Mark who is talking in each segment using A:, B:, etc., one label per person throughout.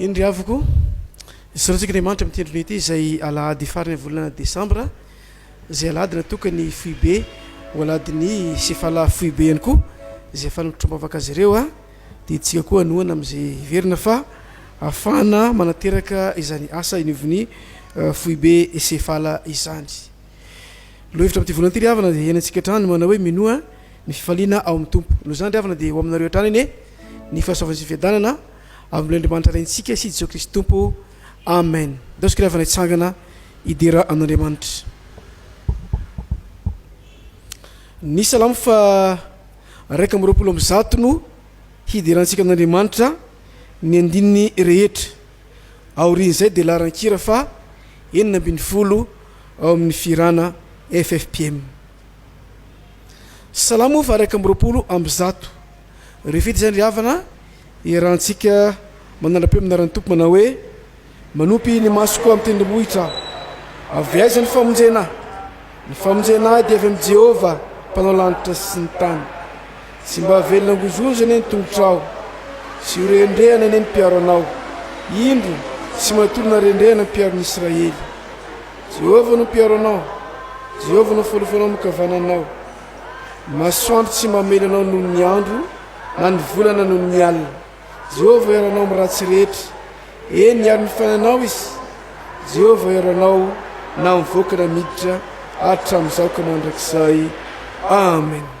A: Eny ry havoko, soratsika Andriamanitra amin'ity andronay ity izay alahady faran'ny volana desambra, izay alahady natokan'ny foibe ho alahadin'ny sefala foibe ihany koa, izay afahana mitrombavaka azy ireo a, dia itsika koa hanohana amin'izay hiverina fa afahana manateraka izany asa inioviny foibe sefala izany. Lohevitra amin'ity volana ity ry havana dia hiainantsika hatrany manao hoe minoa ny fifaliana ao amin'ny Tompo. Noho izany ry havana dia ho aminareo hatrany anie ny fahasoavan'ny sy ny fiadanana Avy amin'i Andriamanitra Rentsika sy Jesoa Kristy Tompo. Amen. Indaosiko ry havana hitsangana hidera an'Andriamanitra. Ny Salamo fa raika amby roapolo amby zato no hiderantsika an'Andriamanitra ny andininy rehetra. Aorian'izay dia laharan-kira fa enina ambin'ny folo ao amin'ny fihirana FFPM. Salamo fa raika amby roapolo amby zato. Ry fety izay ry havana, iarahantsika manara-peo amin'ny anaran'ny Tompo manao hoe, Manopy ny masoko amin'ny tendrombohitra aho. Avy aiza ny famonjena ahy? Ny famonjena ahy dia avy amin'i Jehovah, mpanao lanitra sy ny tany. Tsy mba havelona hangonjonja anie ny tongotrao, tsy ho rendrehana anie ny mpiaro anao. Indro, tsy matory na rendrehana ny mpiaro ny Israely. Jehovah no mpiaro anao, Jehovah no folofonao nokavananao, Ny masoandro tsy mamely anao noho ny andro, na ny volana noho ny alina. Jehovah hiaro anao amin'ny ratsy rehetra. Eny, hiaro ny fiainanao izy. Jehovah hiaro anao na mivoaka na miditra, hatramin'izao ka mandrakizay. Amen.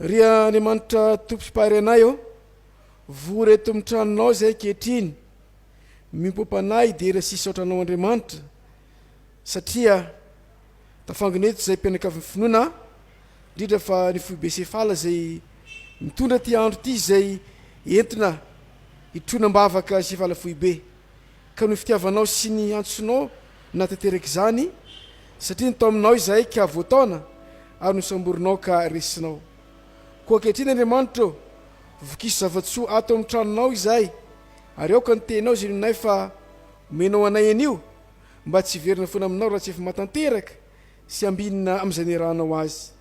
A: Ry Andriamanitra Tompo sy Mpahary anay ô, vory eto amin'ny tranonao izahay ankehitriny, miompam-panahy hidera sy hisaotra anao Andriamanitra, satria tafangona eto izahay mpianakavin'ny finoana, indrindra fa ny foibe Sefala izay mitondra ity andro ity izay entina hitroana am-bavaka Sefala foibe. Ka noho fitiavanao sy ny antsonao nahatanteraka izany, satria nitaominao izahay ka voataona, ary nosamborinao ka resinao. Koa ankehitriny, Andriamanitra ô, vokiso zava-tsoa ato amin'ny tranonao izahay, ary aoka ny teninao izay nononay fa omenao anay anio, mba tsy hiverina foana aminao raha tsy efa mahatanteraka sy ambinina amin'izay niarahanao azy.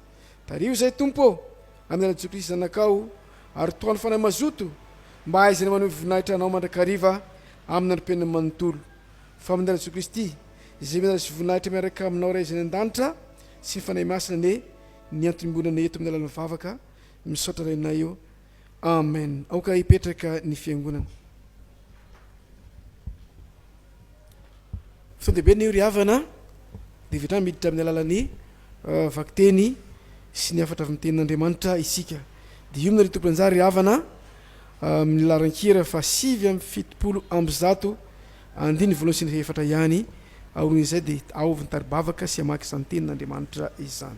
A: Tariho izay, Tompo ô, amin'ny alalan'i Jesoa Kristy Zanakao, ary tohano fanahy mazoto mba hahaizany maneho ny voninahitra Anao mandrakariva amin'ny andro mpiainany manontolo. Famindrana an'i Jesoa Kristy, izay mianjady sy voninahitra miaraka Aminao Ray izay any an-danitra, sy ny Fanahy Masina anie ny antom-bionana eto amin'ny alalan'ny vavaka. Misaotra Rainay ô. Amen aoka hipetraka ny fiangonana. Sao dia be ny ry havana dia vitrany miditra amin'ny alalan'ny euh, vakiteny sy ny hafatra avy amin'ny tenin'Andriamanitra isika. Dia io ry tompon'anjara ry havana euh, amin'ny laran-kira fa sivy amby fitopolo amby zato andiny voalohany sy ny fahefatra ihany. Aorian'izay dia aovy ny taribavaka sy hamaky izany tenin'Andriamanitra izany.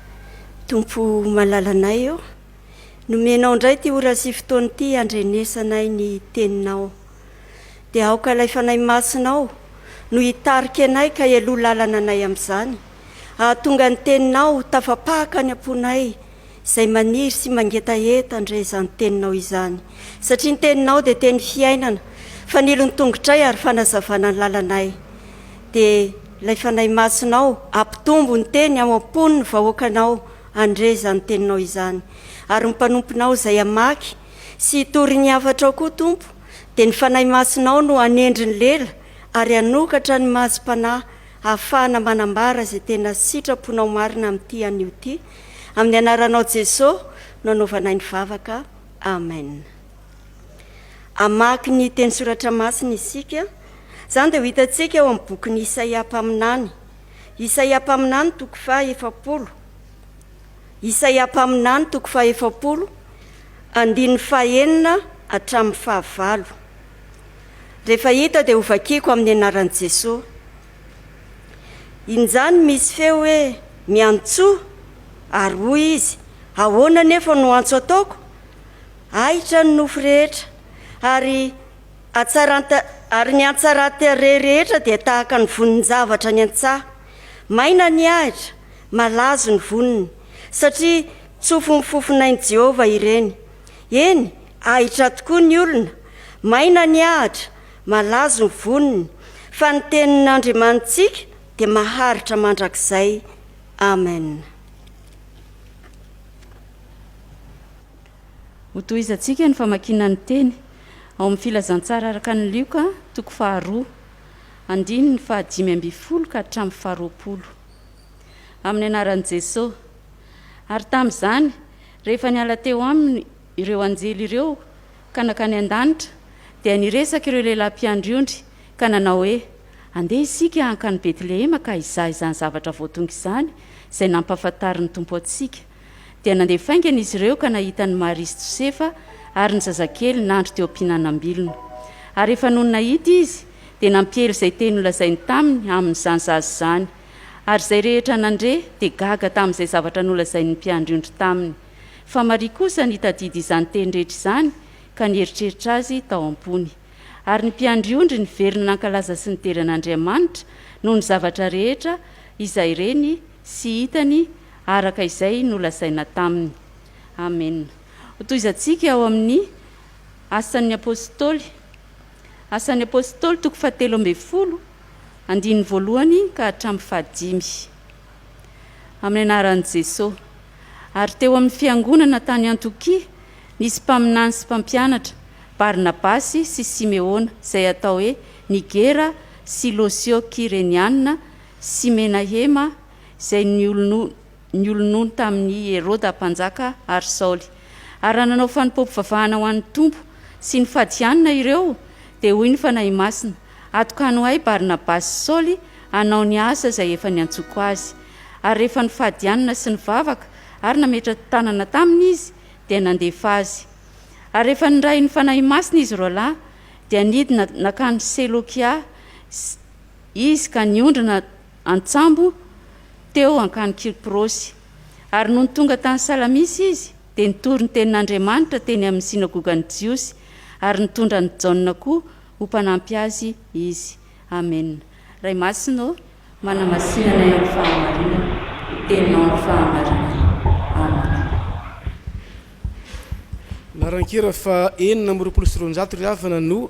B: Tompo malalanay ô, nomenao indray ity ora sy fotoana ity handrenesanay ny teninao. Dia aoka ilay fanahy masinao no hitarika anay ka heloha lalana anay amin'izany, hahatonga ny teninao tafapaka any am-ponay izay maniry sy mangetaheta handre izany teninao izany. Satria ny teninao dia teny fiainana, fanilon'ny tongotray ary fanazavana ny lalanay. dia ilay Fanahy Masinao hampitombo ny teny ao am-pon'ny vahoakanao handre izany teninao izany. Ary ny mpanomponao izay hamaky sy hitory ny hafatrao koa, Tompo, dia ny Fanahy Masinao no hanendry ny lela ary hanokatra ny masom-panahy hahafahana manambara izay tena sitraponao marina amin'ity anio ity. Amin'ny Anaranao Jeso no anaovanay ny vavaka. Amen. Hamaky ny teny soratra masina isika. Izany dia ho hitantsika ao amin'ny bokin'i Isaia mpaminany. Isaia mpaminany toko faha efapolo. Isaia mpaminany toko faha efapolo, andininy fahenina hatramin'ny fahavalo. Rehefa hita dia hovakiko amin'ny anaran'i Jesoa. Injany misy feo hoe miantsoa ary hoy izy, ahoana anefa no antso ataoko? Ahitra ny nofo rehetra, ary hatsaran-ta, ary ny hatsaran-tarehy rehetra dia tahaka ny vonin-javatra any an-tsaha. Maina ny ahitra, malazo ny voniny, satria tsofin'ny fofonain'i Jehovah ireny. Eny, ahitra tokoa ny olona, maina ny ahitra, malazo ny voniny, fa ny tenin'Andriamanitsika dia maharitra mandrakizay. Amen.
C: Hotohizantsika ny famakiana ny teny ao amin'ny Filazantsara araka an'i Lioka, toko faharoa, andininy fahadimy ambin'ny folo ka hatramin'ny faharoapolo. Amin'ny anaran'i Jesosy. Ary tamin'izany, rehefa niala teo aminy ireo anjely ireo ka nankany an-danitra, dia niresaka ireo lehilahy mpiandry ondry ka nanao hoe, Andeha isika hankany Betlehema ka hizaha izany zavatra voatonga izany izay nampahafantarin'ny Tompo antsika. Dia nandeha faingana izy ireo ka nahita an'i Maria sy Josefa ary ny zazakely nandry teo am-pihinanam-bilona. Ary efa nony nahita izy, dia nampiely izay teny nolazainy taminy amin'izany zaza izany. Ary izay rehetra nandre dia gaga tamin'izay zavatra nolazain'ny mpiandry ondry taminy. Fa Maria kosa nitadidy izany teny rehetra izany ka nieritreritra azy tao am-pony. Ary ny mpiandry ondry niverina nankalaza sy nidera an'Andriamanitra noho ny zavatra rehetra izay reny sy hitany araka izay nolazaina taminy. Amena. Hotohizantsika ao amin'ny Asan'ny Apôstôly, Asan'ny Apôstôly toko fahatelo ambin'ny folo, andininy voalohany ka hatramin'ny fahadimy. Amin'ny anaran'i Jesosy. Ary teo amin'ny fiangonana tany Antiokia nisy mpaminany sy mpampianatra, Barnabasy sy Simeôna, izay atao hoe Nigera sy Lôsio Kyreniana, sy Menahema, izay niolonony tamin' i Heroda mpanjaka ary Saoly. Ary raha nanao fanompoam-pivavahana ho an' ny Tompo sy nifady hianina ireo, dia hoy ny Fanahy Masina, Atokano ahy Barnabasy sy Saoly hanao ny asa izay efa niantsoko azy. Ary rehefa nifady hianina sy nivavaka ary nametra-tanana taminy izy, dia nandefa azy. Ary rehefa nirahin' ny Fanahy Masina izy roalahy, dia nidina nakany Selokia sy. Izy ka niondrana an-tsambo teo an-kany Kiprosy. Ary nony tonga tany Salamisy izy, dia nitory ny tenin'Andriamanitra teny amin'ny synagogan'ny Jiosy, ary nitondra an'i Jaona koa ho mpanampy azy izy. Amena. Ray Masina ô, manamasina anay amin'ny fahamarinana, ny Teninao amin'ny fahamarinana. Amena. Laharan-kira
A: faha enina amby roapolo sy roanjato ry havana no.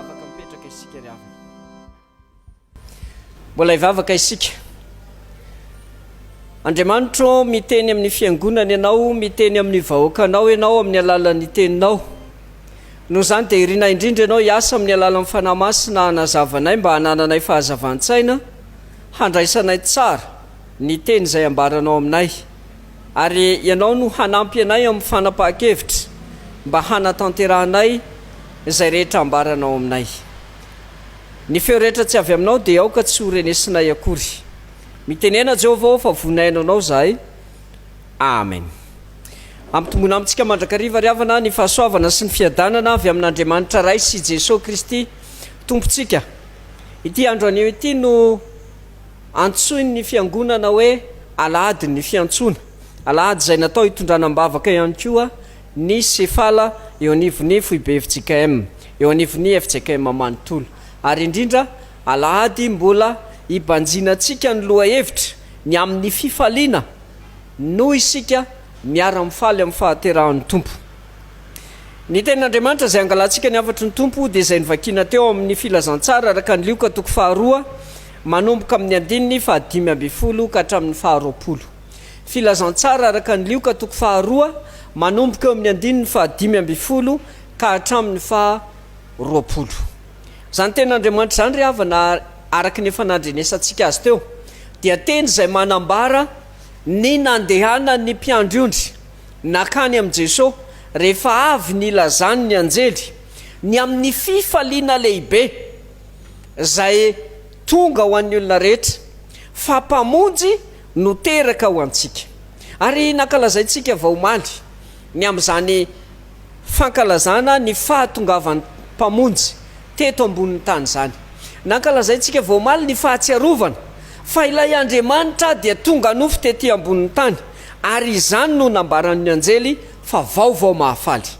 D: Afaka mipetraka isika ry havana. Mbola hivavaka isika. Andriamanitro, miteny amin'ny fiangonana Ianao, miteny amin'ny vahoakanao Ianao amin'ny alalan'ny teninao. Noho izany dia irinay indrindra Ianao hiasa amin'ny alalan'ny Fanahy Masina hanazavanay mba hanananay fahazavan-tsaina handraisanay tsara ny teny izay ambaranao aminay. Ary Ianao no hanampy anay amin'ny fanapahan-kevitra mba hanatanterahanay izay rehetra ambaranao aminay. Ny feo rehetra tsy avy Aminao dia aoka tsy ho renesinay akory. Mitenena Jehovah ô fa vonaino Anao izahay. Amen. Ampitombona amintsika mandrakariva ry havana ny fahasoavana sy ny fiadanana avy amin'Andriamanitra Ray sy Jesoa Kristy Tompontsika. Ity andro anio ity no. Antsoin'ny Fiangonana hoe Alahadin'ny Fiantsoana, alahady izay natao hitondrana am-bavaka ihany koa ny sefala eo anivon'ny foibe fjkm, eo anivon'ny fjkm manontolo, ary indrindra alahady mbola hibanjinantsika ny lohahevitra ny amin'ny fifaliana noho isika miara-mifaly amin'ny fahaterahan'ny Tompo. Ny Tenin'Andriamanitra izay angalantsika ny hafatry ny Tompo dia izay novakiana teo amin'ny Filazantsara araka ny Lioka toko faharoa manomboka amin'ny andininy fahadimy ambin'ny folo ka hatramin'ny faharoapolo. Filazantsara araka ny Lioka toko faharoa, manomboka eo amin'ny andininy fahadimy ambin'ny folo ka hatramin'ny faharoapolo. Izany Tenin'Andriamanitra izany, ry havana, araka ny efa nandrenesantsika azy teo, dia teny izay manambara ny nandehanan'ny mpiandry ondry nankany amin'i Jesosy rehefa avy nilazany ny anjely ny amin'ny fifaliana lehibe. izay tonga ho an'ny olona rehetra, fa Mpamonjy no teraka ho antsika. Ary nankalazaintsika vao omaly ny amin'izany fankalazana ny fahatongavan'ny Mpamonjy teto ambonin'ny tany izany. Nankalazaintsika vao omaly ny Fahatsiarovana fa ilay Andriamanitra dia tonga nofo tety ambonin'ny tany, ary izany no nambaran'ny Anjely fa vaovao mahafaly.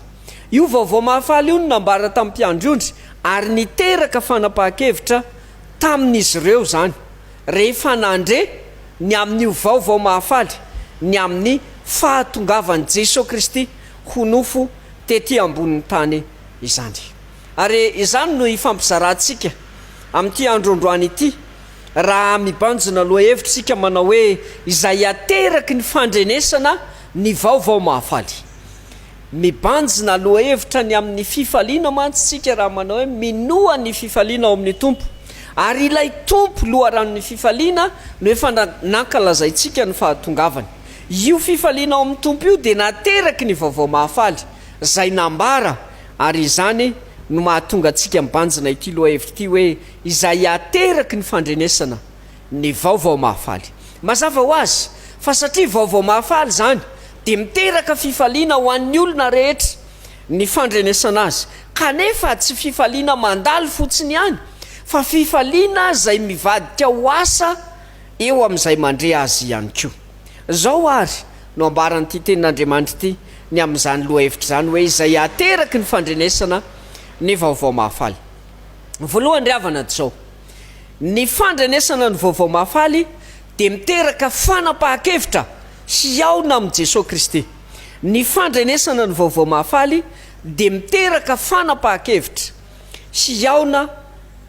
D: Io vaovao mahafaly io no nambara tamin'ny mpiandry ondry ary niteraka fanapahan-kevitra tamin'izy ireo izany, rehefa nandre ny amin'io vaovao mahafaly ny amin'ny fahatongavan'i Jesoa Kristy ho nofo tetỳ ambonin'ny tany izany. Ary izany no ifampizarantsika amin'ity andro androany ity, raha mibanjina lohahevitra isika manao hoe, Izay ateraky ny fandrenesana ny vaovao mahafaly. Mibanjina lohahevitra ny amin'ny fifaliana mantsy isika raha manao hoe minoa ny fifaliana ao amin'ny Tompo. Ary ilay Tompo, Loharanon'ny fifaliana, no efa nankalazaintsika ny fahatongavany. Io fifaliana ao amin'ny Tompo io dia nateraky ny Vaovao Mahafaly, izay nambara, ary izany no mahatonga antsika mibanjina ity lohahevitra ity hoe izay ateraky ny fandrenesana ny Vaovao Mahafaly. Mazava ho azy fa satria Vaovao Mahafaly izany dia miteraka fifaliana ho an'ny olona rehetra ny fandrenesana azy, kanefa tsy fifaliana mandalo fotsiny ihany fa fifaliana izay mivadika ho asa eo amin'izay mandre azy ihany koa. Izao àry no ambaran'ity Tenin'Andriamanitra ity ny amin'izany lohahevitra izany hoe izay ateraky ny fandrenesana ny Vaovao Mahafaly. Voalohany ry havana, dia izao. Ny fandrenesana ny Vaovao Mahafaly dia miteraka fanapahan-kevitra hihaona amin'i Jesoa Kristy. Ny fandrenesana ny Vaovao Mahafaly dia miteraka fanapahan-kevitra hihaona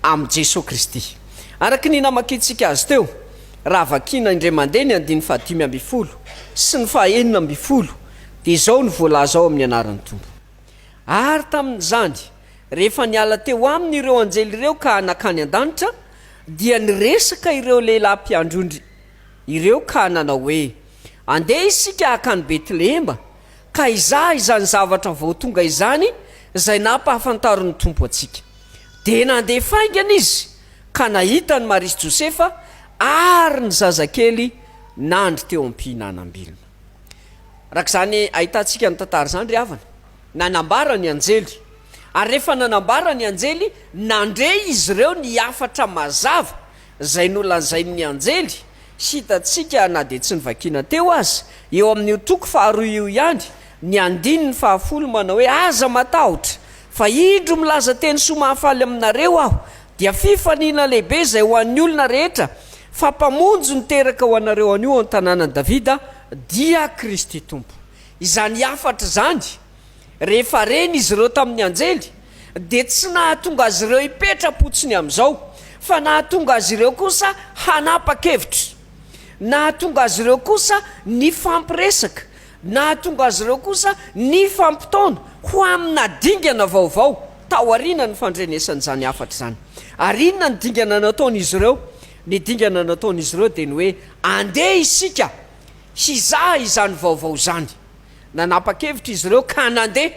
D: amin'i Jesoa Kristy. Araka ny namakintsika azy teo, raha vakiana indray mandeha ny andininy fahadimy ambin'ny folo sy ny fahenina ambin'ny folo dia izao no voalaza ao amin'ny anaran'ny Tompo. Ary tamin'izany, rehefa niala teo aminy ireo anjely ireo ka nankany an-danitra, dia niresaka ireo lehilahy mpiandry-ondry ireo ka nanao hoe, Andeha isika hankany Betlehema, ka hizaha izany zavatra vao tonga izany izay nampahafantarin'ny Tompo antsika. Dia nandeha faingana izy ka nahita an'i Maria sy Josefa ary ny zazakely nandry teo am-pihinanam-bilona. Araka izany ahitantsika ny tantara izany ry havana, nanambara ny anjely, ary rehefa nanambara ny anjely, nandre izy ireo ny hafatra mazava izay nolazain'ny anjely, sy hitantsika na dia tsy novakiana teo aza, eo amin'io toko faharoa io ihany, ny andininy fahafolo manao hoe, Aza matahotra, fa indro milaza teny soa mahafaly aminareo aho, Dia fifaliana lehibe izay ho an'ny olona rehetra, fa Mpamonjy niteraka ho anareo anio ao an-tanànan'i Davida dia Kristy Tompo. Izany hafatra izany, rehefa reny izy ireo tamin'ny anjely, dia tsy nahatonga azy ireo hipetra-potsiny amin'izao, fa nahatonga azy ireo kosa hanapa-kevitra. Nahatonga azy ireo kosa nifampiresaka, Nahatonga azy ireo kosa nifampitaona ho amina dingana vaovao tao aorianan'ny fandrenesan'izany hafatra izany. Ary inona no dingana nataon'izy ireo? Ny dingana nataon'izy ireo dia ny hoe, Andeha isika hizaha izany vaovao izany. Nanapa-kevitra izy ireo ka nandeha.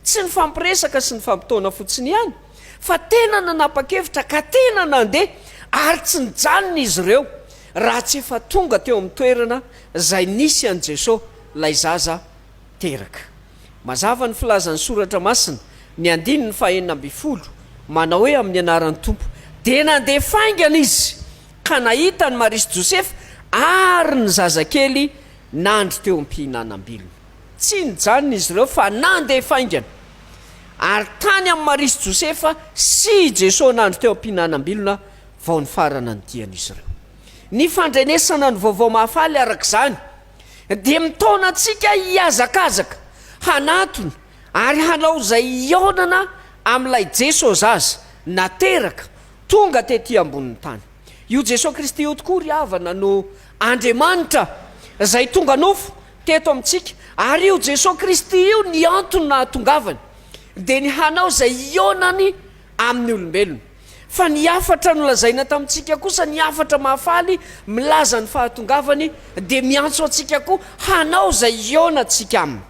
D: Tsy nifampiresaka sy nifampitaona fotsiny ihany, fa tena nanapa-kevitra ka tena nandeha, ary tsy nijanona izy ireo. Raha tsy efa tonga teo amin'ny toerana izay nisy an'i Jesosy ilay zaza teraka. Mazava ny filazan'ny Soratra Masina, ny andininy fahenina ambin'ny folo, manao hoe amin'ny anaran'ny Tompo. Dia nandeha faingana izy ka nahita an'i Maria sy Josefa ary ny zazakely nandry teo am-pihinanam-bilona. Tsy nijanona izy ireo fa nandeha faingana ary tany amin'i Maria sy Josefa sy i Jesosy nandry teo am-pihinanam-bilona. vao nifarana ny dian'izy ireo. Ny fandrenesana ny Vaovao Mahafaly, araka izany, dia mitaona antsika hihazakazaka hanatona ary hanao izay hihaonana amin'ilay Jesosy azy nateraka tonga tetỳ ambonin'ny tany. Io Jesosy Kristy io tokoa, ry havana, no Andriamanitra izay tonga nofo teto amintsika, ary io Jesosy Kristy io, ny antony nahatongavany, dia ny hanao izay hihaonany amin'ny olombelona. Fa ny hafatra nolazaina tamintsika kosa, ny hafatra mahafaly milaza ny fahatongavany, dia miantso antsika koa hanao izay hihaonantsika aminy.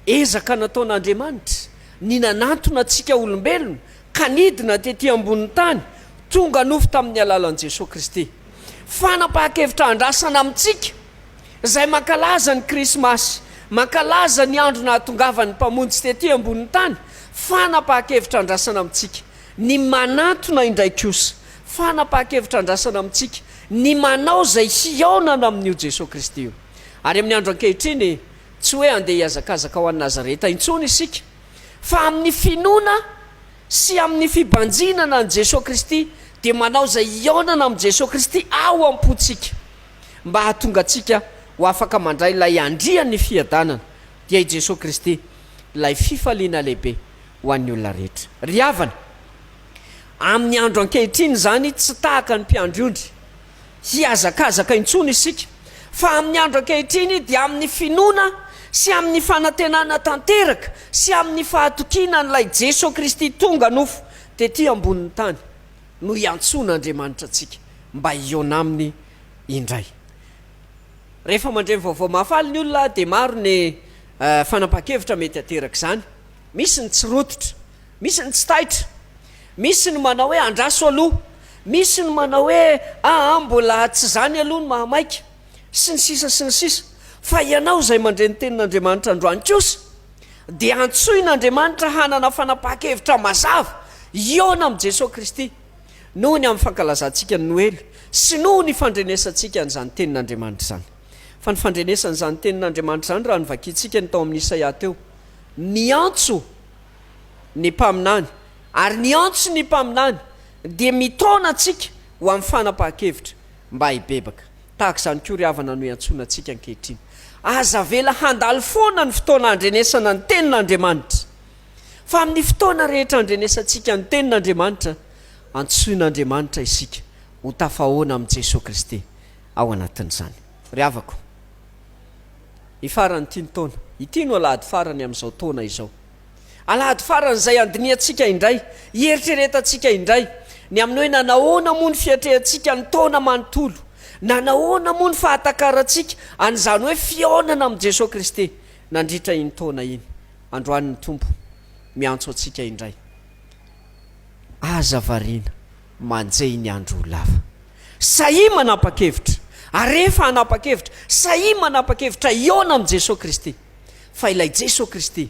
D: Ezaka nataon'Andriamanitra ny nanantona antsika olombelona ka nidina tetỳ ambonin'ny tany, tonga nofo tamin'ny alalan'i Jesoa Kristy. Fanapahan-kevitra andrasana amintsika, izay mankalaza ny Krismasy, mankalaza ny andro nahatongavan'ny Mpamonjy tetỳ ambonin'ny tany, fanapahan-kevitra andrasana amintsika. Ny manatona indray kosa, fanapahan-kevitra andrasana amintsika ny manao izay hihaonana amin'io Jesoa Kristy io. Ary amin'ny andro ankehitriny, tsy hoe handeha hihazakazaka ho any Nazareta intsony isika, fa amin'ny finoana sy amin'ny fibanjinana an'i Jesoa Kristy dia manao izay hihaonana amin'i Jesoa Kristy ao am-pontsika, mba hahatonga antsika ho afaka mandray ilay Andrian'ny fiadanana, dia i Jesoa Kristy, ilay fifaliana lehibe. ho an'ny olona rehetra. Ry havana, amin'ny andro ankehitriny izany tsy tahaka ny mpiandry ondry hihazakazaka intsony isika, fa amin'ny andro ankehitriny dia amin'ny finoana sy amin'ny fanantenana tanteraka sy amin'ny fahatokiana an'ilay Jeso Kristy tonga nofo tety ambonin'ny tany no iantsoana Andriamanitra antsika mba hihaona Aminy indray. Rehefa mandre ny Vaovao Mahafaly ny olona dia maro ny. Fanapahan-kevitra mety ateraka izany, misy ny tsy rototra, misy ny tsy taitra, misy ny manao hoe andraso aloha, misy ny manao hoe aa mbola tsy izany aloha ny mahamaika, sy ny sisa sy ny sisa Fa ianao izay mandre ny tenin'Andriamanitra androany kosa dia antsoin'Andriamanitra hanana fanapahan-kevitra mazava hihaona amin'i Jesoa Kristy noho ny amin'ny fankalazantsika ny Noely sy noho ny fandrenesantsika an'izany tenin'Andriamanitra izany. Fa ny fandrenesan'izany tenin'Andriamanitra izany, raha ny vakintsika ny tao amin'ny Isaia teo, miantso ny mpaminany, ary ny antso ny mpaminany dia mitaona antsika ho amin'ny fanapahan-kevitra mba hibebaka. Tahaka izany koa ry havana no iantsoana antsika ankehitriny. Aza avela handalo foana ny fotoana handrenesana ny tenin'Andriamanitra, fa amin'ny fotoana rehetra handrenesantsika ny tenin'Andriamanitra, antsoin'Andriamanitra isika ho tafahaona amin'i Jesoa Kristy. ao anatin'izany. Ry havako, ny faran'ity ny taona. Ity no alahady farany amin'izao taona izao. Alahady faran'izay handinihantsika indray, hieritreretantsika indray ny amin'ny hoe nanahoana moa ny fiatrehantsika ny taona manontolo, nanahoana moa ny fahatakarantsika an'izany hoe fihaonana amin'i Jesoa Kristy nandritra iny taona iny. Androany ny Tompo miantso antsika indray. Aza variana. Manjehy ny andro ho lava. Sahia manapa-kevitra. Arefa hanapa-kevitra. Sahia manapa-kevitra hihaona amin'i Jesoa Kristy. Fa ilay Jesoa Kristy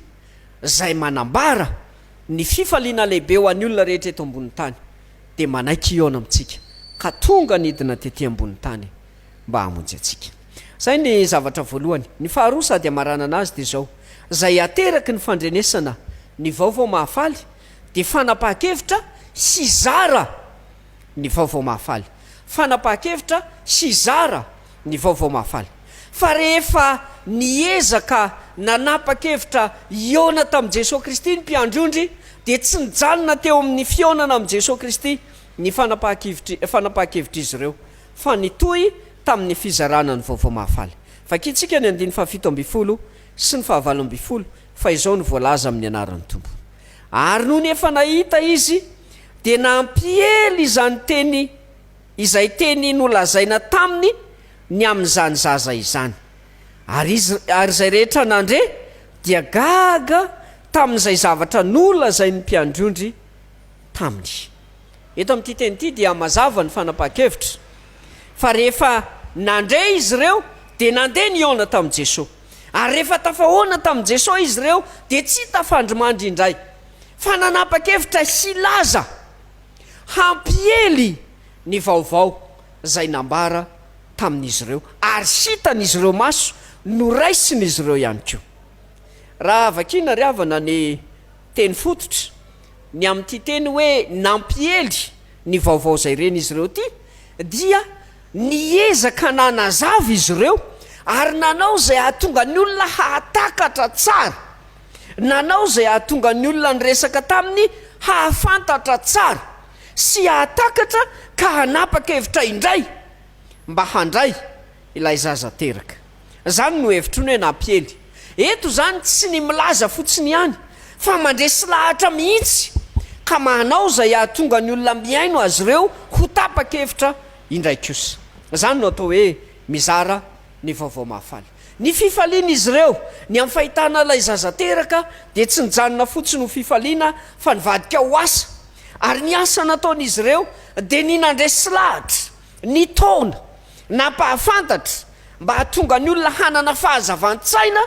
D: Izay manambara ny fifaliana lehibe ho an'ny olona rehetra eto ambonin'ny tany dia manaiky hihaona amintsika ka tonga nidina tety ambonin'ny tany mba hamonjy antsika. Izay ny zavatra voalohany. Ny faharoa sady hamaranana azy dia izao, Izay ateraky ny fandrenesana ny vaovao mahafaly, dia fanapahan-kevitra sy hizara ny vaovao mahafaly. Fanapahan-kevitra sy hizara ny vaovao mahafaly. Fa rehefa niezaka nanapa-kevitra hihaona tamin'i Jesoa Kristy ny mpiandry ondry, dia tsy nijanona teo amin'ny fihaonana amin'i Jesoa Kristy ny fanapahan-kevitr'izy ireo, fa nitohy tamin'ny fizarana ny vaovao mahafaly. Vakintsika ny andininy fahafito ambin'ny folo sy ny fahavalo ambin'ny folo. Fa izao no voalaza amin'ny anaran'ny Tompo. Ary nony efa nahita izy, dia nampiely izany teny izay teny nolazaina taminy ny amin'izany zaza izany. Ary izy, ary izay rehetra nandre, dia gaga tamin'izay zavatra nolazain'ny mpiandry ondry taminy. Eto amin'ity teny ity dia mazava ny fanapahan-kevitra fa rehefa nandre izy ireo dia nandeha nihaona tamin'i Jesoa. Ary rehefa tafahoana tamin'i Jesoa izy ireo dia tsy tafandrimandry indray, fa nanapa-kevitra hilaza, hampiely ny vaovao izay nambara tamin'izy ireo, ary hitan'izy ireo maso, noraisin'izy ireo ihany koa. Raha vakiana ry havana ny teny fototra, ny amin'ity teny hoe nampiely ny vaovao izay reny izy ireo ity dia. Niezaka nanazava izy ireo ary nanao izay hahatonga ny olona hahatakatra tsara, nanao izay hahatonga ny olona niresaka taminy hahafantatra tsara sy hahatakatra ka hanapa-kevitra indray mba handray ilay zaza teraka. Izany no hevitro ny hoe nampiely. Eto izany tsy ny milaza fotsiny ihany fa mandresy lahatra mihitsy ka manao izay hahatonga ny olona mihaino azy ireo ho tapa-kevitra indray kosa. Izany no atao hoe mizara ny vaovao mahafaly. Ny fifalian'izy ireo ny amin'ny fahitana ilay zaza teraka dia tsy nijanona fotsiny ho fifaliana fa nivadika ho asa ary ny asa nataon'izy ireo dia ny nandresy lahatra Ny taona nampahafantatra mba hahatonga ny olona hanana fahazavan-tsaina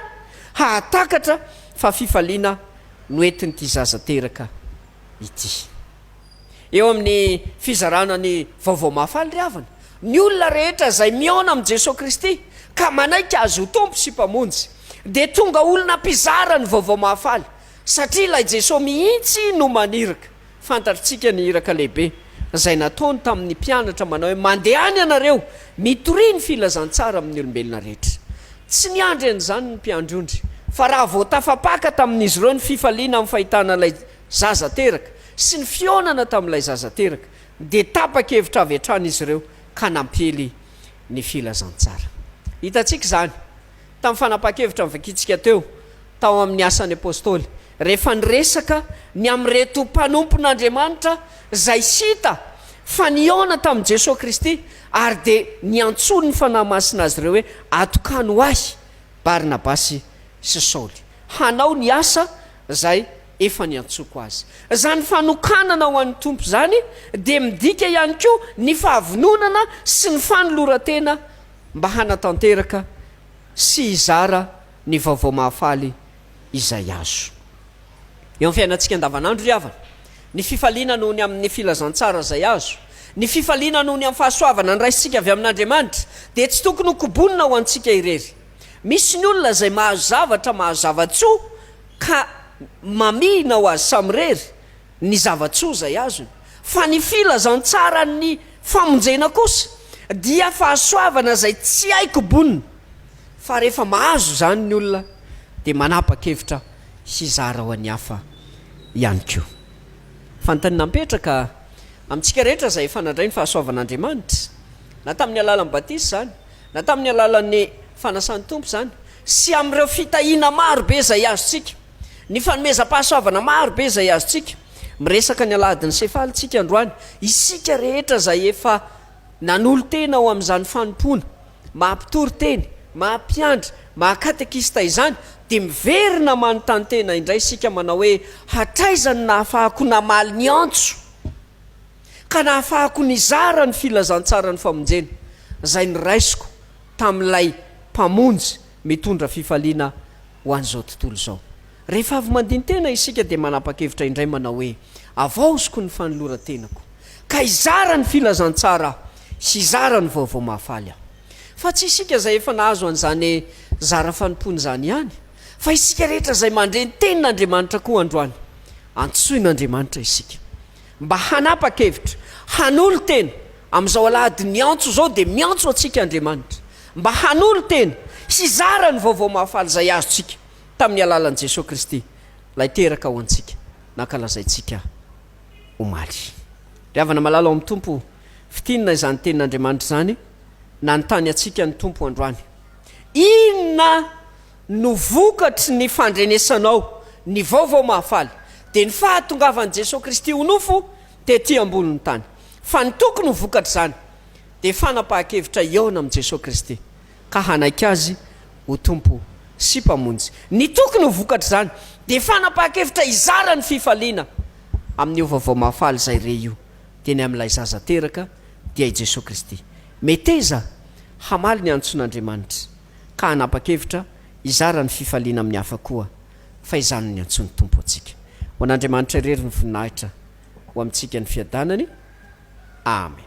D: hahatakatra fa fifaliana no entin'ity zaza teraka ity. Eo amin'ny fizarana ny Vaovao Mahafaly ry havana, ny olona rehetra izay mihaona amin'i Jesoa Kristy ka manaiky Azy ho Tompo sy Mpamonjy dia tonga olona mpizara ny Vaovao Mahafaly satria ilay Jesoa mihitsy no maniraka Fantatrtsika ny iraka lehibe izay nataony tamin'ny mpianatra manao hoe, Mandehana ianareo, mitoria ny filazantsara amin'ny olombelona rehetra. Tsy niandry an'izany ny mpiandry ondry, fa raha vao tafapaka tamin'izy ireo ny fifaliana amin'ny fahitana ilay zaza teraka sy ny fihaonana tamin'ilay zaza teraka, dia tapa-kevitra avy hatrany izy ireo ka nampiely ny filazantsara. Hitantsika izany. tamin'ny fanapahan-kevitra novakintsika teo tao amin'ny Asan'ny Apostoly, rehefa niresaka ny amin'ireto mpanompon'Andriamanitra izay tsy hita fa nihaona tamin'i Jesoa Kristy ary dia niantsoan'ny Fanahy Masina azy ireo hoe, Atokano ho ahy Barnabasy sy Saoly, hanao ny asa izay efa niantsoako azy. Izany fanokanana ho an'ny Tompo izany dia midika ihany koa ny fahavononana sy ny fanoloran-tena mba hanatanteraka sy hizara ny vaovao mahafaly izay azo. Eo amin'ny fiainantsika andavanandro ry havana, ny fifaliana noho ny amin'ny filazantsara izay azo, ny fifaliana noho ny amin'ny fahasoavana niraisintsika avy amin'Andriamanitra dia tsy tokony hokobonina ho antsika irery. Misy ny olona izay mahazo zavatra, mahazo zava-tsoa ka mamihina ho azy samirery ny zava-tsoa izay azony, fa ny filazantsaran'ny famonjena kosa dia fahasoavana izay tsy hay kobonina, fa rehefa mahazo izany ny olona dia manapa-kevitra hizara ho an'ny hafa ihany koa. Fantany napetraka amintsika rehetra izay efa nandray ny fahasoavan'Andriamanitra, na tamin'ny alalan'ny batisa izany, na tamin'ny alalan'ny fanasan'ny Tompo izany, sy amin'ireo fitahiana maro be izay azontsika. Ny fanomezam-pahasoavana maro be izay azontsika. Miresaka ny Alahadin'ny Sefaly isika androany, isika rehetra izay efa nanolo-tena ho amin'izany fanompoana maha-mpitory teny, maha-mpiandry, maha-katekista izany, dia miverina manontany tena indray isika manao hoe, Hatraiza no nahafahako namaly ny antso ka nahafahako nizara ny filazantsaran'ny famonjena izay noraisiko tamin'ilay Mpamonjy mitondra fifaliana ho an'izao tontolo izao. Rehefa avy mandini-tena isika dia manapa-kevitra indray manao hoe, Havaoziko ny fanoloran-tenako, ka hizara ny filazantsara aho sy hizara ny vaovao mahafaly aho. Fa tsy isika izay efa nahazo an'izany zara fanompoana izany ihany, fa isika rehetra izay mandre ny Tenin'Andriamanitra koa androany. Antsoin'Andriamanitra isika. Mba hanapa-kevitra, hanolo-tena, amin'izao alahady niantso izao dia miantso antsika Andriamanitra mba hanolo-tena hizara ny Vaovao Mahafaly izay azontsika tamin'ny alalan'i Jesoa Kristy Ilay teraka ho antsika nankalazaintsika omaly. Ry havana malala ao amin'ny Tompo, fintinina izany Tenin'Andriamanitra izany nanontany antsika ny Tompo androany. Inona? no vokatry ny fandrenesanao ny Vaovao Mahafaly, dia ny fahatongavan'i Jesoa Kristy ho nofo tety ambonin'ny tany. Fa ny tokony ho vokatr'izany dia fanapahan-kevitra hihaona amin'i Jesoa Kristy, ka hanaiky Azy ho Tompo sy Mpamonjy. Ny tokony ho vokatr'izany dia fanapahan-kevitra hizara ny fifaliana amin'io Vaovao Mahafaly izay re io, dia ny amin'ilay Zaza teraka, dia i Jesoa Kristy. Meteza hamaly ny antson'Andriamanitra. ka hanapa-kevitra hizara ny fifaliana amin'ny hafa koa, fa izany no niantsoan'ny Tompo antsika. Ho an'Andriamanitra irery ny voninahitra, ho amintsika ny fiadanany. Amen.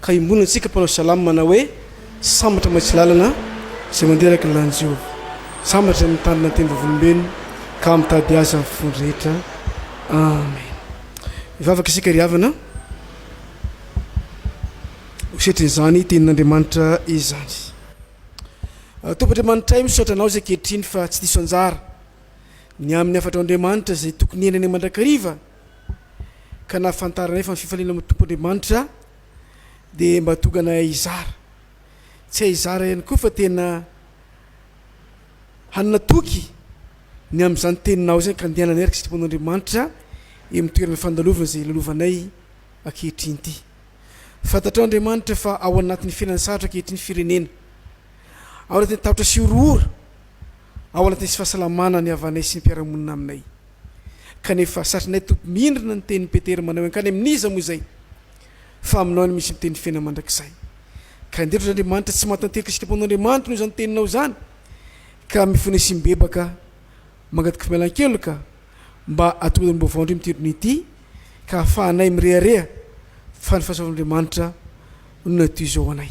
A: Ka iombonana antsika mpanao salamo manao hoe, Sambatra maitso lalana izay mandeha araka ny lalan'i Jehovah. Sambatra izay mitandrina ny teny vavolombelony ka mitady azy amin'ny fony rehetra. Amen. Mivavaka isika ry havana ho setrin'izany tenin'Andriamanitra izany. Tompo Andriamanitray, misaotra Anao izay ankehitriny fa tsy diso anjara ny amin'ny hafatrao Andriamanitra izay tokony henany mandrakariva, ka na fantaranay fa ny fifaliana amin'ny Tompo Andriamanitra dia mba tonga anay hizara. Tsy hay hizara ihany koa fa tena hanana toky ny amin'izany teninao izany ka andehananay araka ny sitrapon'Andriamanitra eo amin'ny toerana fandalovana izay lalovanay ankehitriny ity. Fantatrao Andriamanitra fa ao anatin'ny fiainana sarotra ankehitriny ny firenena. Ao anatin'ny tahotra sy horohoro ao anatin'ny tsy fahasalamana ny havanay sy ny mpiara-monina aminay. Kanefa, satrinay Tompo mihinrina ny tenin'i Petera manao hoe hankany amin'iza moa izay fa aminao ihany misy ny tenin'ny fiainana mandrakizay. Ka andeha ry Andriamanitra tsy mahatanteraka isika mpanao Andriamanitra noho izany teninao izany ka mifona sy mibebaka mangataka fimalan-keloka mba atomboy ny baovao indray mitirona ity ka ahafahanay mirehareha fa ny fahasoavan'Andriamanitra no natoizo ho anay.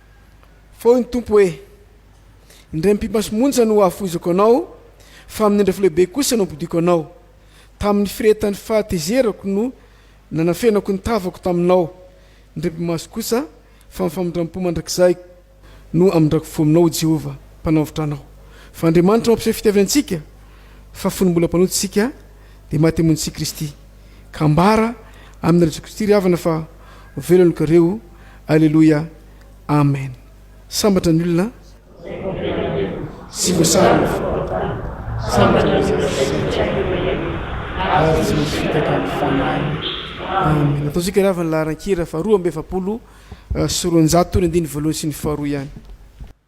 A: Fa hoy ny Tompo hoe, Indray mipimpana sy monja no hahafoizako anao, fa amin'ny andrafo lehibe kosa no hampodiako anao. Tamin'ny firehetan'ny fahatezerako no nanafenako ny tavako taminao, indray pi-maso kosa, fa amin'ny famindram-po mandrakizay no hamindrako fo aminao, hoy Jehovah, Mpanavotra anao. Fa Andriamanitra mampiseho fitiavantsika, fa fony mbola mpanota isika, dia maty amonontsia Kristy. ka ambara aminy Jesoa Kristy ry havana fa ho velon'ny kareo Aleloia Amen sambatra ny olona tsy voasary ny fampatany sambatra ny izay sasatra ary tsy misy fitaka ny fanahiny Amen ataontsika ry havana laharan-kira fa roa amby efapolo sy roanjato ny andininy voalohany sy ny faharoa ihany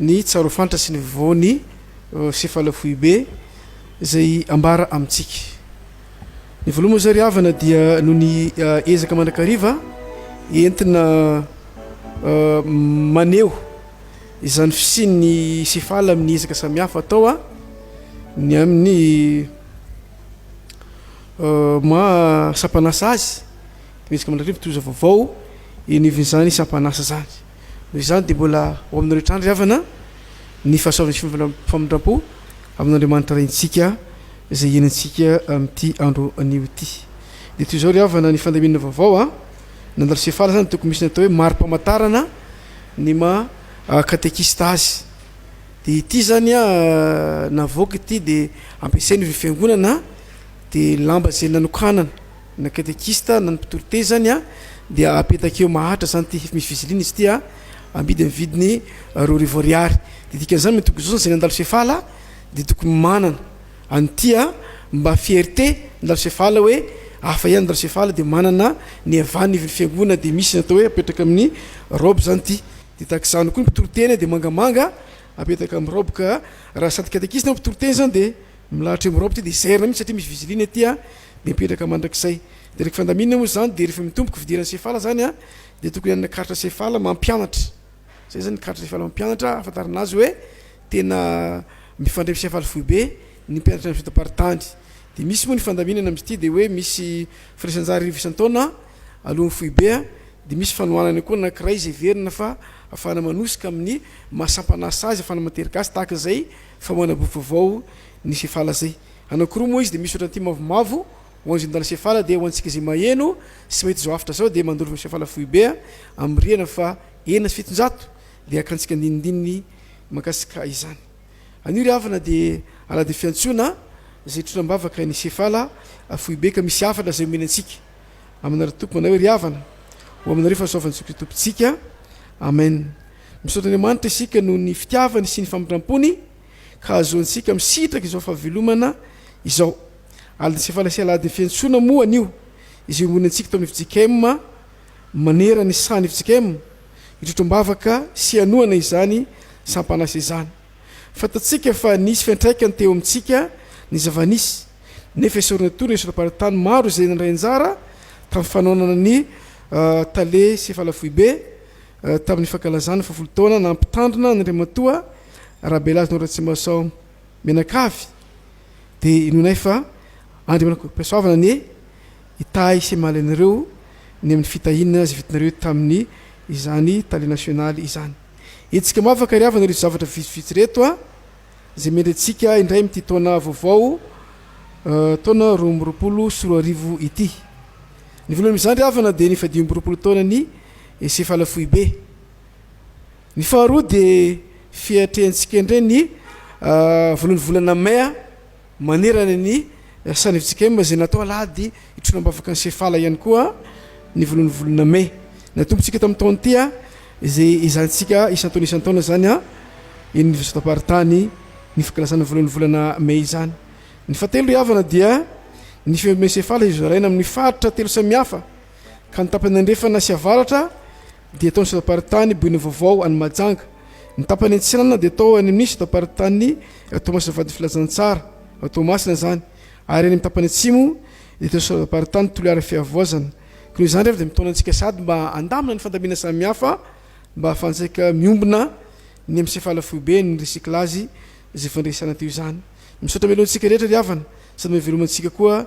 A: ny tsarofanitra sy ny voany sefala foibe izay ambara amintsika. Ny voaloha moa izay ry havana dia noho ny ezaka mandrakariva entina maneho izany fisian'ny sefala amin'ny ezaka samihafa atao ny amin'ny maha sampanasa azy, ny ezaka mandrakariva toy izao vaovao eny ivin'izany sampanasa izany. Noho izany dia mbola ho aminareo hatrany ry havana ny fahasoavan'ny famindram-po amin'Andriamanitra Rentsika izay hiainantsika amin'ity andro anio ity. Dia toy izao ry havana ny fandaminana vaovao a! Nandalo Sefala izany tokony misy ny atao hoe mari-pamantarana ny maha katekista azy. Dia ity izany a, navoaka ity dia ampiasain'ireo fiangonana dia lamba izay nanokanana. Na katekista na ny mpitory teny zany a dia apetaka eo mahatra zany ty misy fiziliana izy ty a amidy amin'ny vidiny roa arivo ariary de dikan'izany mety hogozozana zay nandalo sefala de tokony manana an'ity a mba fierté nandalo sefala hoe hafa ihany nandalo sefala de manana ny havan'ny ivon'ny fiangonana de misy natao hoe apetraka amin'ny robe zany ty de tahaka izany koa ny mpitory teny de mangamanga apetaka amin'ny robe ka raha sady katekista na mpitory teny zany de Milahatra eo Europe ty de zairina mintsy satria misy viziline aty a de mipetraka mandrakizay de reky fandaminana moa zany de refa mitomboky fidirana sefala zany a de tokony hanana karatra sefala mampianatra zay zany karatra sefala mampianatra ahafantarana azy oe tena mifandray am sefala foibe ny mpianatra am fitaparitany de misy moa ny fandaminana am zty de oe misy firaisanjaha arivo isan-taona alohan'ny foibe a de misy fanohanana koa anakiray zay heverina fa afahana manosika amin'ny maha sampan'asa azy afahana matery gasy tahaka zay Fa manamboho vaovao ny sefala zay. Anankiroa moa izy dia misy ohatran'ity mavomavo ho an'izay nandala sefala dia ho antsika izay maheno sy mahita izao hafatra izao dia mandoro fa sefala foibe amin'ny rihana faha enina sy fitonjato dia hakantsika andinindininy makasika izany. Anio ry havana dia alahady fiantsoana izay hitrotra am-bavaka ny sefala foibe ka misy hafatra izay omeny antsika aminareo tompoko manao hoe ry havana ho aminareo fahasoavan'i Jesoa Kristy Tompontsika. Amen. Misaotra Andriamanitra isika noho ny fitiavany sy ny famindram-pony ka ahazoantsika misitraka izao fahavelomana izao. Alin'ny sefala sy aladin'ny fiantsoana moa anio izay omenantsika tao amin'ny fjkm manerana ny sahan'ny fjkm hitrotra am-bavaka sy hanohana izany sampan'asa izany. Fantatsika fa nisy fiantraikany teo amintsika ny zava-nisy nefa esorina toa ny esoram-paritany maro izay nandray anjara tamin'ny fanohanana ny Tale sy Falafoibe tamin'ny fankalazana fahavalo taona nampitandrina an'Andriamatoa Rabelazinao Ratsimahasaho mianakavy dia inoanay fa Andriamanako Mpihasoavana anie hitahy sy hamaly anareo ny amin'ny fitahiana izay vitanareo tamin'ny izany Tale Nasionaly izany. Hetsika mafy ankariavana ireto zavatra vitsivitsy ireto a! izay mendretsika indray amin'ity taona vaovao taona roa amby roapolo sy roa arivo ity. Ny voalohany amin'izany ry havana dia ny fahadimy amby roapolo taonan'ny Sefala Foibe. Ny faharoa dia fiatrehantsika indray ny voalohan'ny volana Mai. Manerana ny Sanef Jkm izay natao alahady hitroana am-bavaka ny Sefala ihany koa ny voalohan'ny volana Mey. Natombotsika tamin'ity taona ity izay ezahintsika isan-taona isan-taona izany eny Oniversitem-paritany ny fankalazana ny voalohan'ny volana Mey izany. Ny fahatelo ry havana dia ny fiombon'ny Sefala izay zaraina amin'ny faritra telo samihafa ka ny tapany andrefana sy avaratra dia tao sora-paritany Bohinyvaovao any Mahajanga. Ny tapany antsinana dia tao any amin'ny sora-paritany Toamasina Vady Filazantsara ao Toamasina izany ary any amin'ny tapany atsimo dia tao sora-paritany Toliara Fihavoazana. Koa noho izany rehefa dia mitaona antsika sady mba handamina ny fandamina samihafa mba ahafahantsika miombona ny amin'ny sefala foibe ny recyclage izay fandresana teo izany. Misaotra mialoha antsika rehetra ry havana sady mahaveloma antsika koa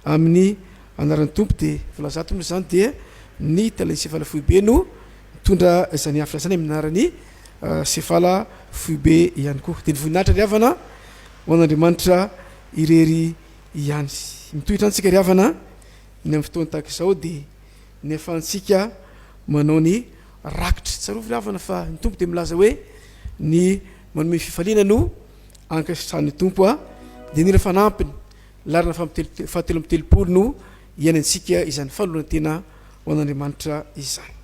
A: Amin'ny anaran'ny Tompo dia voalazato moa izany dia ny tale sefala foibe no mitondra izany hafatra izany amin'ny anaran'ny sefala foibe ihany koa dia ny voninahitra ry havana ho an'Andriamanitra irery ihany mitohitra antsika ry havana ny amin'ny fotoana tahaka izao dia ny afahantsika manao ny rakitra tsarovy ry havana fa ny Tompo dia milaza hoe ny manome fifaliana no ankasitrahan'ny Tompo a dia nila fanampiny Laharana fahatelo amby telopolo no hiainantsika izany fanoloran-tena ho an'Andriamanitra izany.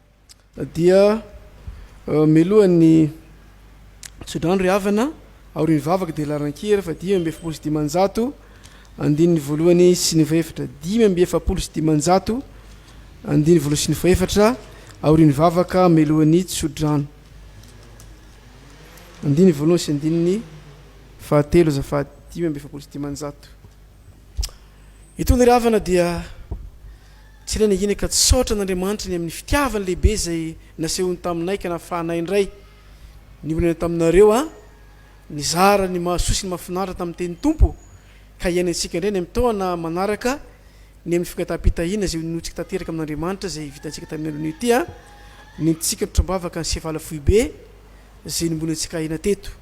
A: dia meloha ny tsodrano ry havana aorian'ny vavaka dia larankia rehefa dimy amby efapolo sy dimanjato andininy voalohany sy ny fahefatra dimy amby efapolo sy dimanjato andiny voalohany sy ny fahefatra aorian'ny vavaka melohan'ny tsodrano andiny voalohany sy andininy fahatelo azafady dimy amby efapolo sy dimanjato itony ry havana dia Tsy ilaina ihany ka tsaotra an'Andriamanitra ny amin'ny fitiavany lehibe izay nasehony taminay ka nafahanay indray ny olana taminareo a! Nizara ny mahasoa sy ny mahafinaritra tamin'ny tenin'ny Tompo ka hiainantsika indray ny amin'ny taona manaraka ny amin'ny fangataham-pitahiana izay hononointsika tanteraka amin'Andriamanitra izay vitantsika tamin'ny andron'io ity a! Nentintsika nitram-bavaka ny sevala foibe izay nombonintsika aina teto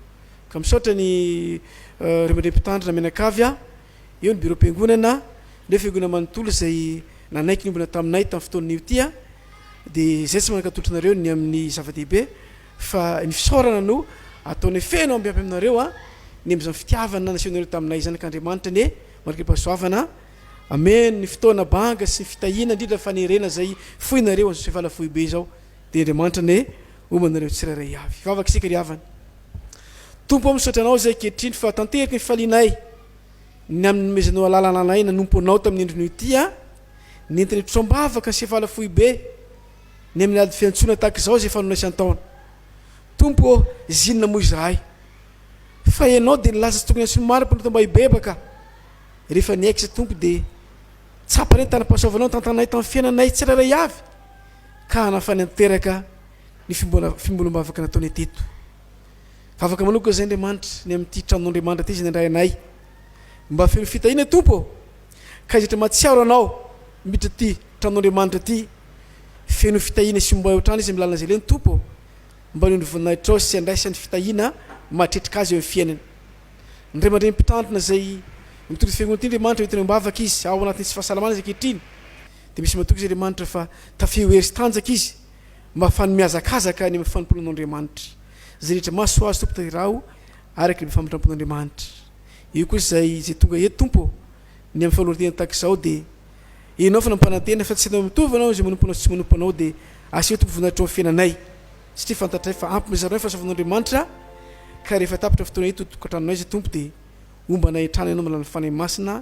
A: ka misaotra ny reo mandrem-pitandrina mianakavy a! Eo ny biraom-piangonana, ireo fiangonana manontolo izay nanaiky niombona taminay tamin'ny fotoan'io ity aho, dia izay tsy mankatolotry nareo ny amin'ny zava-dehibe, fa ny fisaorana no ataonay feno ambiamby aminareo an, ny amin'izany fitiavana nasehonareo taminay izany, ka Andriamanitra anie mandriampahasoavana, amen, ny fotoana banga sy ny fitahiana indrindra fanerena izay foinareo an'izao sevala foibe izao. Dia Andriamanitra anie homba anareo tsirairay avy. Hivavaka isika ry havana. Tompo o, misaotra Anao izay ankehitriny fa tanteraka ny fifalianay ny amin'ny nomezanao alalana anay nanompo Anao tamin'ny endriny ity an, nentina hitrosa-bavaka sy hifala foibe ny amin'ny ady fiantsoana tahaka izao izay fanonay isan-taona. Tompo o, zinona moa izahay fa Ianao dia nilaza tsy tokony antsoin'ny maro mpanota mba hibebaka. Rehefa niaiky izay Tompo dia tsapa ny tanam-pahasoavanao nitantananay tamin'ny fiainanay tsirairay avy. ka hanafany an-teraka ny fimbolom-bavaka nataonay teto. Vavaka manoka izay Andriamanitra ny amin'ity tranon'Andriamanitra ity izay nandray anay. Mba feno fitahiana Tompo ô! Ka izay rehetra mahatsiaro Anao miditra ity tranon'Andriamanitra ity, feno fitahiana sy homba eo hatrany izy amin'ny lalana izay leo ny Tompo ô! Mba anio ny voninahitrao sy andraisany fitahiana mahatretrika azy eo amin'ny fiainany. Ny ray aman-dreny mpitandrina izay mitondra ity fiangonana ity Andriamanitra, entiny am-bavaka izy ao anatin'ny tsy fahasalamana izy ankehitriny. Dia misy matoky izy Andriamanitra fa tafio hery sy tanjaka izy mba hahafahan'ny mihazakazaka any amin'ny fanompoanan'Andriamanitra. Izay rehetra maso Azy Tompo tanterao araka ilay famindrampon'Andriamanitra. Eo kosa izay izay tonga eto Tompo ô, ny amin'ny fanoloran-tena tahaka izao dia Ianao fa nampanantena fa tsy ianao mitovy anao izay manompo Anao sy tsy manompo Anao dia asio Tompo voninahitro amin'ny fiainanay satria fantatray fa ampy mizara ny fahasoavan'Andriamanitra ka rehefa tapitra fotoana eto tokantranonay izay Tompo dia homba anay hatrany Ianao amin'ny alalan'ny Fanahy Masina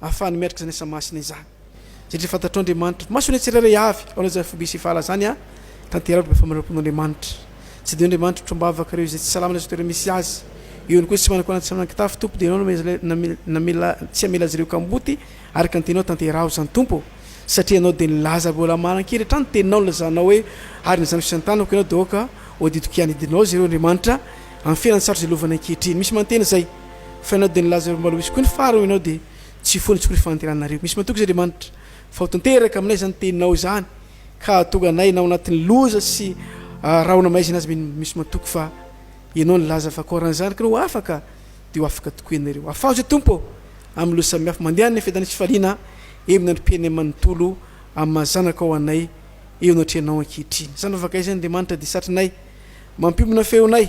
A: Ahafahany miatrika izany asa masina izany, satria fantatrao Andriamanitra. Masoanay tsirairay avy, ao amin'izany foibe sy fahala izany an, tanterako ny famindrampon-Andriamanitra. Tsy dia eo Andriamanitra otrombahavaka ireo izay tsy salama na izay toerana misy azy. Eo ihany koa izay tsy manakona na tsy manan-kitafy, Tompo dia Ianao no tsy hamela azy ireo kamboty, araka ny Teninao tanteraho izany Tompo, satria Ianao dia nilaza avy eo Lamanankiry hatrany ny Teninao nilazanao hoe, Ary ny zanako sy ny tanako Ianao dia aoka ho adidiko hianidinao azy ireo Andriamanitra, amin'ny fiainana sarotra izay lovany ankehitriny. Misy mantena izay. Fa ianao dia nilaza ireo mbola ho hisy koa ny fara hoy ianao dia tsy hifoha ny tsy hory fahanteranareo. Misy matoky izy Andriamanitra fa ho tanteraka aminay izany teninao izany ka hahatonga anay na ho anatin'ny loza sy rahona maizina aza mino misy matoky fa ianao nilaza fa koa raha ny zanako no ho afaka dia ho afaka tokoa ianareo. Afaho izay Tompo ô amin'ny loza samihafa. Mandehana ny fiadanan'ny fifaliana eo amin'ny androm-piainanay manontolo amin'ny maha zanakao ho anay eo anatrehanao ankehitriny. Izany vavaka izany Andriamanitra dia satrinay mampiombona feonay.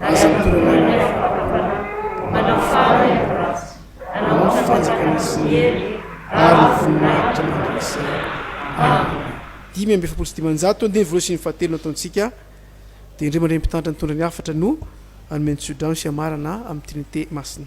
A: Aza mitorina ny nify ara-panahy, manao faly ny ratsy, nanao ny fanjakana sy ny hery ary ny voninahitra mandrakizay. Amena. Dimy amby efapolo sy dimanjato ny teny voalohany sy ny fahatelo nataontsika, dia indreo mandray ny mpitantana nitondra ny hafatra no hanome ny tsodrano sy hamarana amin'ny Trinite Masina.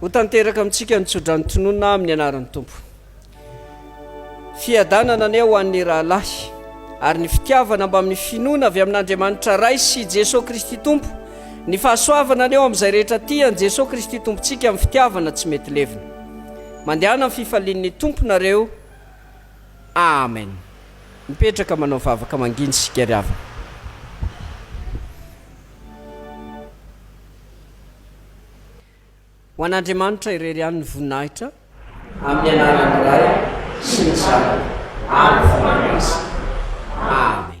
A: Ho tanteraka amintsika ny tsodrano tononina amin'ny anaran'ny Tompo. Fiadanana anie ho an'ny rahalahy ary ny fitiavana mbamin'ny finoana avy amin'Andriamanitra Ray sy Jesoa Kristy Tompo, ny fahasoavana anie ho amin'izay rehetra tian'i Jesoa Kristy Tompontsika amin'ny fitiavana tsy mety levona. Mandehana amin'ny fifalian'ny Tompo nareo. Amen! Mipetraka manao vavaka manginy isika ry havana. Ho an'Andriamanitra irery ihany ny voninahitra. Amin'ny anaran'ny Ray sy ny Zanaka ary ny Fanahy Masina. Amen.